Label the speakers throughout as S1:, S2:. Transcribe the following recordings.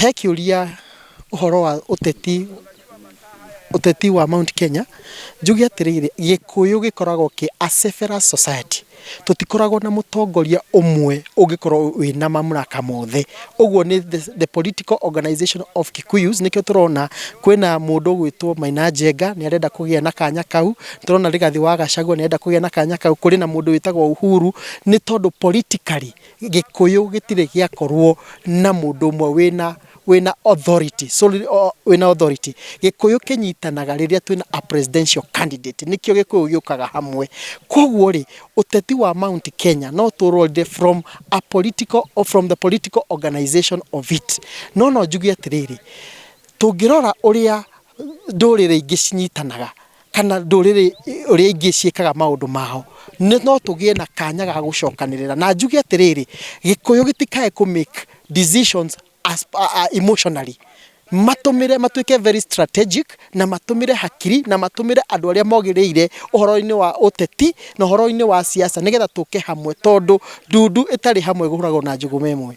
S1: He kĩũria ũhoro wa ũteti, ũteti wa Mount Kenya, njuge atĩrĩrĩ, gĩkũyũ gĩkoragwo kĩ a several society, tũtikoragwo na mũtongoria ũmwe ũngĩkorwo wĩna mamlaka mothe, ũguo nĩ the political organization of Kikuyus, nĩkĩo tũrona kwĩna mũndũ ũgwĩtwo Maina Njenga, nĩ arenda kũgĩa na kanya kau, nĩ tũrona Rigathĩ wa Gachagua nĩ arenda kũgĩa na kanya kau, kũrĩ na mũndũ wĩtagwo Uhuru, nĩ tondũ politically, Gĩkũyũ gĩtirĩ gĩakorwo na mũndũ ũmwe wĩna wĩna authority, solely o- wĩna authority. Gĩkũyũ kĩnyitanaga rĩrĩa twĩna a presidential candidate, nĩkĩo Gĩkũyũ gĩũkaga hamwe. Koguo-rĩ, ũteti wa Mount Kenya no tũũrorire from a political or from the political organization of it. No no njuge atĩrĩrĩ, tũngĩrora ũrĩa ndũrĩrĩ ingĩ cinyitanaga, kana ndũrĩrĩ ũrĩa ingĩ ciĩkaga maũndũ mao, nĩ no tũgĩe na kanya ga gũcokanĩrĩra. Na njuge atĩrĩrĩ, Gĩkũyũ gĩtikae kũ make decisions as emotionally. Matũmĩre, matuĩke very strategic, na matũmĩre hakiri, na matũmĩre andũ arĩa mogĩrĩire ũhoro-inĩ wa ũteti, na ũhoro-inĩ wa siasa nĩgetha tũke hamwe tondũ ndundu ĩtarĩ hamwe ĩhũragwo na njũgũma ĩmwe.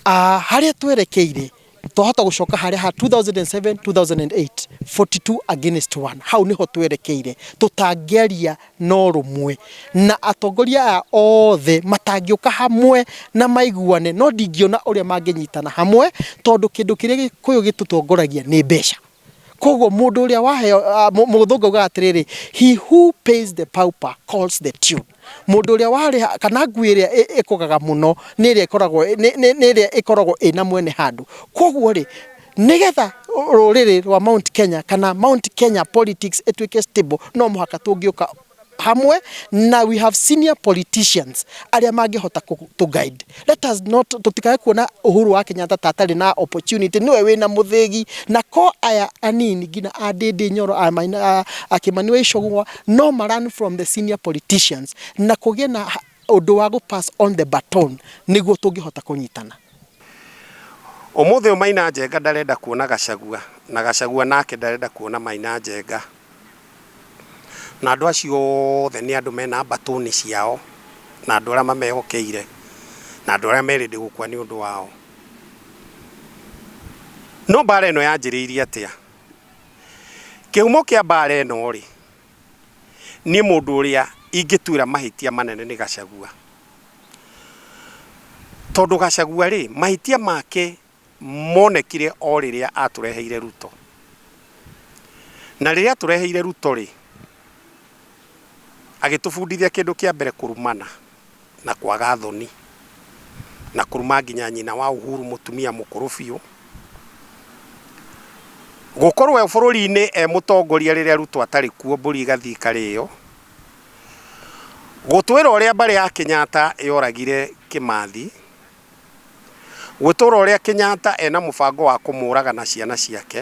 S1: Ah, harĩa twerekeire twahota gũcoka harĩa ha 2007 2008 42 against 1 hau nĩho twerekeire tũtangĩaria na ũrũmwe na atongoria aya othe matangĩũka hamwe na maiguane no ndingĩona ũrĩa mangĩnyitana hamwe tondũ kĩndũ kĩrĩa gĩkũyũ gĩtũtongoragia nĩ mbeca Koguo mũndũ ũrĩa waheo, ah, mũ- mũthũngũ augaga atĩrĩrĩ, he who pays the pauper calls the tune. Mũndũ ũrĩa warĩha, kana ngui ĩrĩa ĩ- ĩkũgaga mũno nĩ ĩrĩa ĩkoragwo, nĩ- nĩ- nĩ ĩrĩa ĩkoragwo ĩna mwene handũ. Koguo-rĩ, nĩgetha rũrĩrĩ rwa Mount Kenya, kana Mount Kenya politics ĩtuĩke stable, no mũhaka tũngĩũka hamwe na we have senior politicians arĩa mangĩhota kũ- to guide let us not tũtikae kuona Uhuru wa Kenyatta ta atarĩ na opportunity nĩwe wĩna mũthĩgi na ko aya anini nginya a Ndĩndĩ Nyoro a Maina- a- a Kĩmani wa Icũng'wa no ma learn from the senior politicians na kũgĩe na ha- ũndũ wa gũ pass on the baton nĩguo tũngĩhota kũnyitana Ũmũthĩ
S2: ũyũ Maina Njenga ndarenda kuona Gachagua na Gachagua nake ndarenda kuona Maina Njenga. Na andũ acio othe nĩ andũ mena mbatũni ciao, na andũ arĩa mamehokeire, na andũ arĩa merĩndĩ gũkua nĩ ũndũ wao. No mbaara ĩno yanjĩrĩirie atĩa? Kĩhumo kĩa mbaara ĩno-rĩ, niĩ mũndũ ũrĩa ingĩtuĩra mahĩtia manene nĩ Gachagua. Tondũ Gachagua-rĩ, mahĩtia make monekire o rĩrĩa atũreheire Ruto. Na rĩrĩa atũreheire Ruto rĩ, agĩtũbundithia kĩndũ kĩa mbere kũrumana na kwaga thoni, na kũruma nginya nyina wa Uhuru mũtumia mũkũrũ biũ. Gũkorwo e bũrũri-inĩ e mũtongoria rĩrĩa Ruto atarĩ kuo mbũri ĩgathiĩ ĩkarĩo. Gũtwĩra ũrĩa mbarĩ ya Kenyatta yoragire Kĩmathi Gũtũra ũrĩa Kenyatta ena mũbango wa kũmũraga na ciana ciake,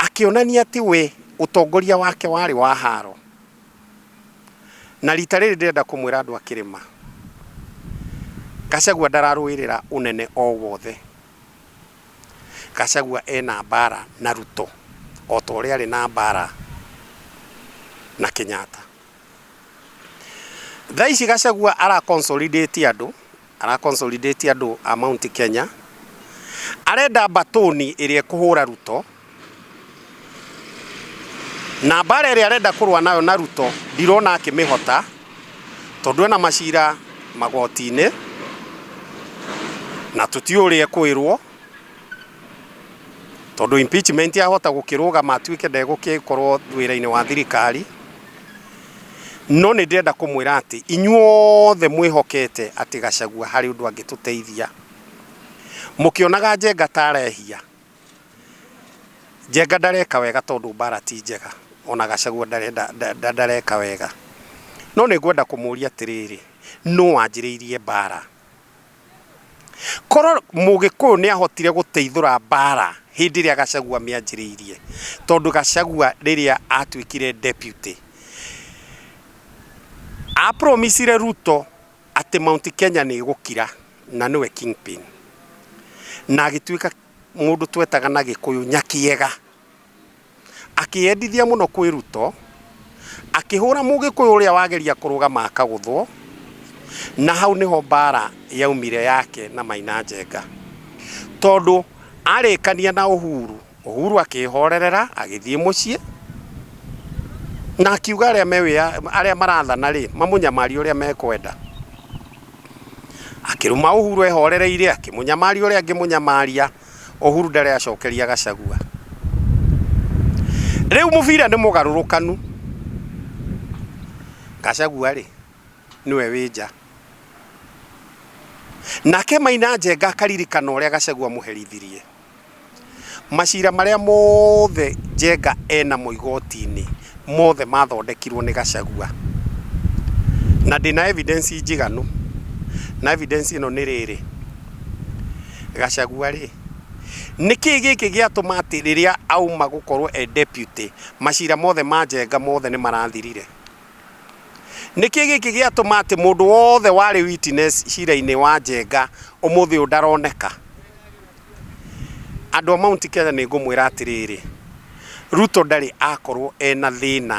S2: akĩonania atĩ we ũtongoria wake warĩ wa haro. Na rita rĩrĩ ndĩrenda kũmwĩra andũ a kĩrĩma, Gachagua ndararũĩrĩra ũnene o wothe. Gachagua ena mbara na Ruto, o ta ũrĩa arĩ na mbara na Kenyatta. Thaa ici Gachagua ara consolidate andũ, ara consolidate andũ a Mount Kenya, arenda mbatũni ĩrĩa ĩkũhũra Ruto, na mbara ĩrĩa arenda kũrũa nayo na Ruto ndirona akĩmĩhota, tondũ ena macira magoti-inĩ, na tũtiũĩ ũrĩa ekwĩrwo, tondũ impeachment yahota gũkĩrũgama atuĩke ndegũgĩkorwo wĩra-inĩ wa thirikari. No nĩ ndĩrenda kũmwĩra atĩ inyuothe mwĩhokete atĩ Gachagua harĩ ũndũ angĩtũteithia. Mũkĩonaga Njenga ta arehia, Njenga ndareka wega tondũ mbara ti njega, ona Gachagua ndarenda ndareka wega. No nĩ ngwenda kũmũria atĩrĩrĩ, nũ wanjĩrĩirie mbara? Korwo mũgĩkũyũ nĩ ahotire gũteithũra mbara hĩndĩ ĩrĩa Gachagua mĩanjĩrĩirie, tondũ Gachagua rĩrĩa atuĩkire deputy, a promise -ire Ruto atĩ Mount Kenya nĩ ĩgũkira, na nĩwe kingpin, na agĩtuĩka mũndũ twetaga na gĩkũyũ nyakiega. Akĩyendithia mũno kwĩ Ruto, akĩhũra Mũgĩkũyũ ũrĩa wageria kũrũgama akagũthwo, na hau nĩho mbara yaumire yake na Maina Njenga. Tondũ arĩkania na Uhuru, Uhuru akĩhorerera agĩthiĩ mũciĩ, na akiuga arĩa me wĩya, arĩa marathana rĩ, mamũnyamarie ũrĩa mekwenda. Akĩruma Uhuru ehorereire, akĩmũnyamaria ũrĩa angĩmũnyamaria. Uhuru ndarĩ acokeria Gachagua. Rĩu mũbira nĩ mũgarũrũkanu. Gachagua rĩ nĩwe wĩ nja. Nake Maina Njenga akaririkana ũrĩa Gachagua mũherithirie. Macira marĩa mothe Njenga enamo igoti-inĩ mothe mathondekirwo nĩ Gachagua. Na ndĩna evidence njiganu. Na evidence ĩno nĩ rĩrĩ. Gachagua rĩ, nĩkĩĩ gĩkĩ gĩatũma atĩ rĩrĩa auma gũkorwo e deputy macira mothe ma njenga mothe nĩ marathirire? Nĩkĩĩ gĩkĩ gĩatũma atĩ mũndũ wothe warĩ witness cira-inĩ wa njenga ũmũthĩ ũyũ ndaroneka? Andũ a Mount Kenya nĩ ngũmwĩra atĩrĩrĩ, Ruto ndarĩ akorwo ena thĩna.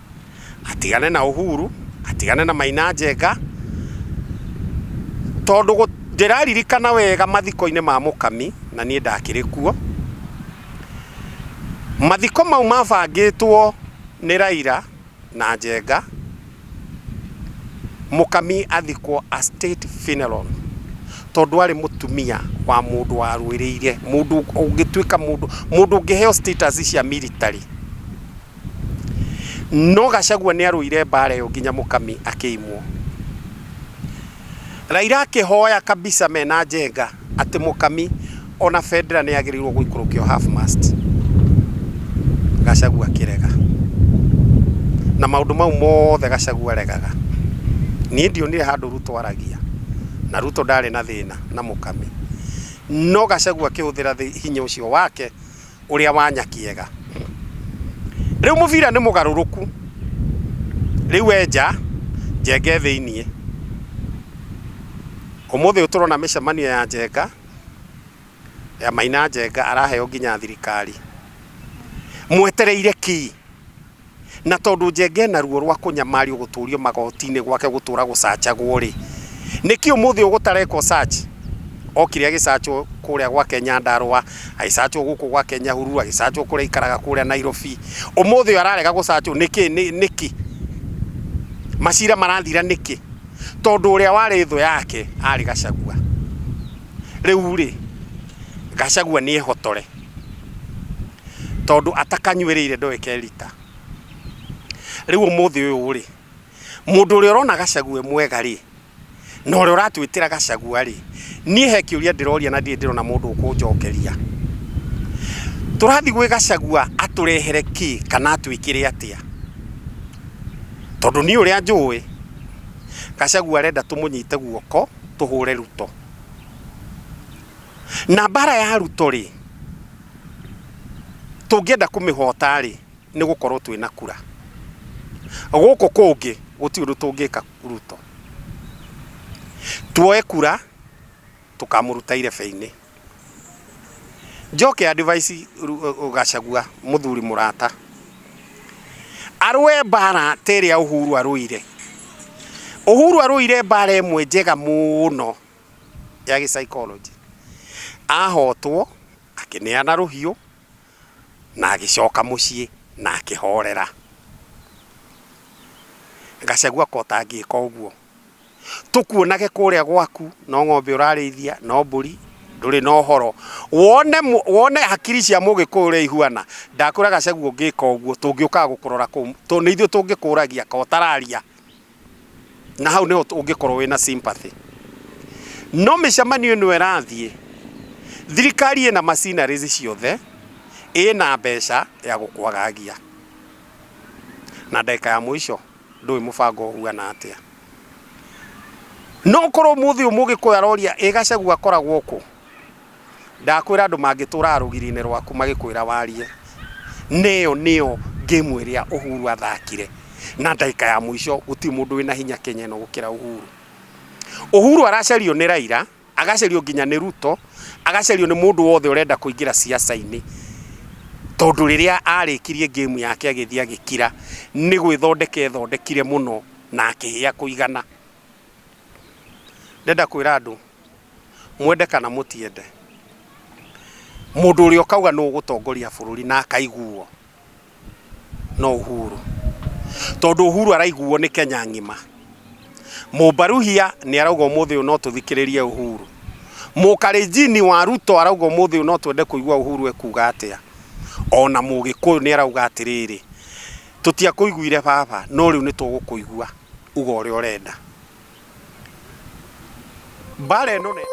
S2: atigane na Uhuru, atigane na Maina Njenga, tondũ gũ- ndĩraririkana wega mathiko-inĩ ma Mũkami, na niĩ ndakĩrĩ kuo, mathiko mau mabangĩtwo nĩ Raila na Njenga, Mũkami athikwo a state funeral, tondũ arĩ mũtumia wa mũndũ warũĩrĩire, mũndũ ũngĩtuĩka mũndũ, mũndũ ũngĩheo status cia military. No Gachagua nĩ arũire mbara ĩyo nginya Mũkami akĩimwo. Raila akĩhoya kabisa mena Njenga atĩ Mũkami ona bendera nĩ yagĩrĩirwo gũikũrũkio half mast. Gachagua akĩrega. Na maũndũ mau mothe Gachagua aregaga. Niĩ ndionire handũ Ruto aragia. Na Ruto ndarĩ na thĩna na Mũkami. No Gachagua akĩhũthĩra hinya ũcio wake ũrĩa wa Nyakĩega. Rĩu mũbira nĩ mũgarũrũku, rĩu e nja, Njenga e thĩiniĩ. Ũmũthĩ tũrona mĩcemanio ya Njenga, ya Maina Njenga araheo nginya thirikari. Mwetereire kĩĩ? Na tondũ njenge ena ruo rwa kũnyamario gũtũrio magoti-inĩ gwake gũtũra gũcachagwo rĩ, nĩkĩ ũmũthĩ ũgũtarekwo search? Okire agĩcachwo kũrĩa gwake Nyandarua, agĩcachwo gũkũ gwake Nyahururu, agĩcachwo kũrĩa aikaraga kũrĩa Nairobi. Ũmũthĩ ũyũ ararega gũcachwo nĩkĩ? Nĩkĩ? Macira marathira nĩkĩ? Tondũ ũrĩa warĩ thũ yake arĩ Gachagua. Rĩu rĩ, Gachagua nĩ ehotore. tondũ atakanyuĩrĩire ndoĩ kerita. Rĩu ũmũthĩ ũyũ rĩ, mũndũ ũrĩa ũrona Gachagua e mwega rĩ, na ũrĩa ũratwĩtĩra Gachagua rĩ, niĩ he kĩũria ndĩroria na ndirĩ ndĩrona mũndũ ũkũnjokeria. Tũrathiĩ gwĩ Gachagua atũrehere kĩ kana atwĩkĩre atĩa? Tondũ niĩ ũrĩa njũĩ, Gachagua arenda tũmũnyite guoko tũhũre Ruto. na mbara ya ruto rĩ tũngĩenda kũmĩhota rĩ nĩ gũkorwo twĩ na kura gũkũ kũngĩ gũtirĩ ũndũ tũngĩka ruto tuoe kura tũkamũruta irebe-inĩ njoke advice Ru- gacagua mũthuri mũrata arũe mbara ta ĩrĩa ũhuru arũire ũhuru arũire mbara ĩmwe njega mũno ya gĩ-psychology. Ahotwo, akĩneana rũhiũ, na agĩcoka mũciĩ na akĩhorera. Gacagua ko ũtangĩka ũguo. Tũkuonage kũrĩa gwaku, no ng'ombe ũrarĩithia, no mbũri, ndũrĩ na ũhoro. Wone wone hakiri cia Mũgĩkũyũ ũrĩa ihuana, ndakwĩra Gacagua ũngĩka ũguo, tũngĩũkaga gũkũrora kũu, tondũ nĩ ithuĩ tũngĩkũragia, kaĩ ũtararia. na hau nĩho ũngĩkorwo wĩna sympathy no mĩcemanio ĩno ĩrathiĩ thirikari ĩna machineries ciothe ĩna mbeca ya gũkwagagia na ndagĩka ya mũico ndũĩ mũbango ũhuana atĩa no korwo mũthĩ ũmũgĩkũyũ aroria ĩ gacagua akoragwo kũ Ndakwĩra andũ mangĩtũũraga rũgiri-inĩ rwaku magĩkwĩra warie, nĩyo nĩyo game ĩrĩa Uhuru athakire na ndagĩka ya mũico gũtirĩ mũndũ wĩna hinya Kenya ĩno gũkĩra Uhuru. Uhuru aracario nĩ Raila, agacario nginya nĩ Ruto, agacario nĩ mũndũ wothe ũrenda kũingĩra ciaca-inĩ, tondũ rĩrĩa arĩkirie game yake agĩthiĩ agĩkira, nĩ gwĩthondeka ethondekire mũno na akĩhĩa kũigana. ndenda kwĩra andũ mwende kana mũtiende mũndũ ũrĩa ũkauga nũ ũgũtongoria bũrũri na akaiguo no Uhuru tondũ Uhuru araiguo nĩ Kenya ng'ima mũmbaruhia nĩ arauga ũmũthĩ ũyũ no tũthikĩrĩrie Uhuru mũkarenjini wa Ruto arauga ũmũthĩ ũyũ no twende kũigua Uhuru ekuga atĩa ona mũgĩkũyũ nĩ arauga atĩrĩrĩ tũtiakũiguire baba no rĩu nĩtũgũkũigua uga ũrĩa ũrenda mbara ĩno nene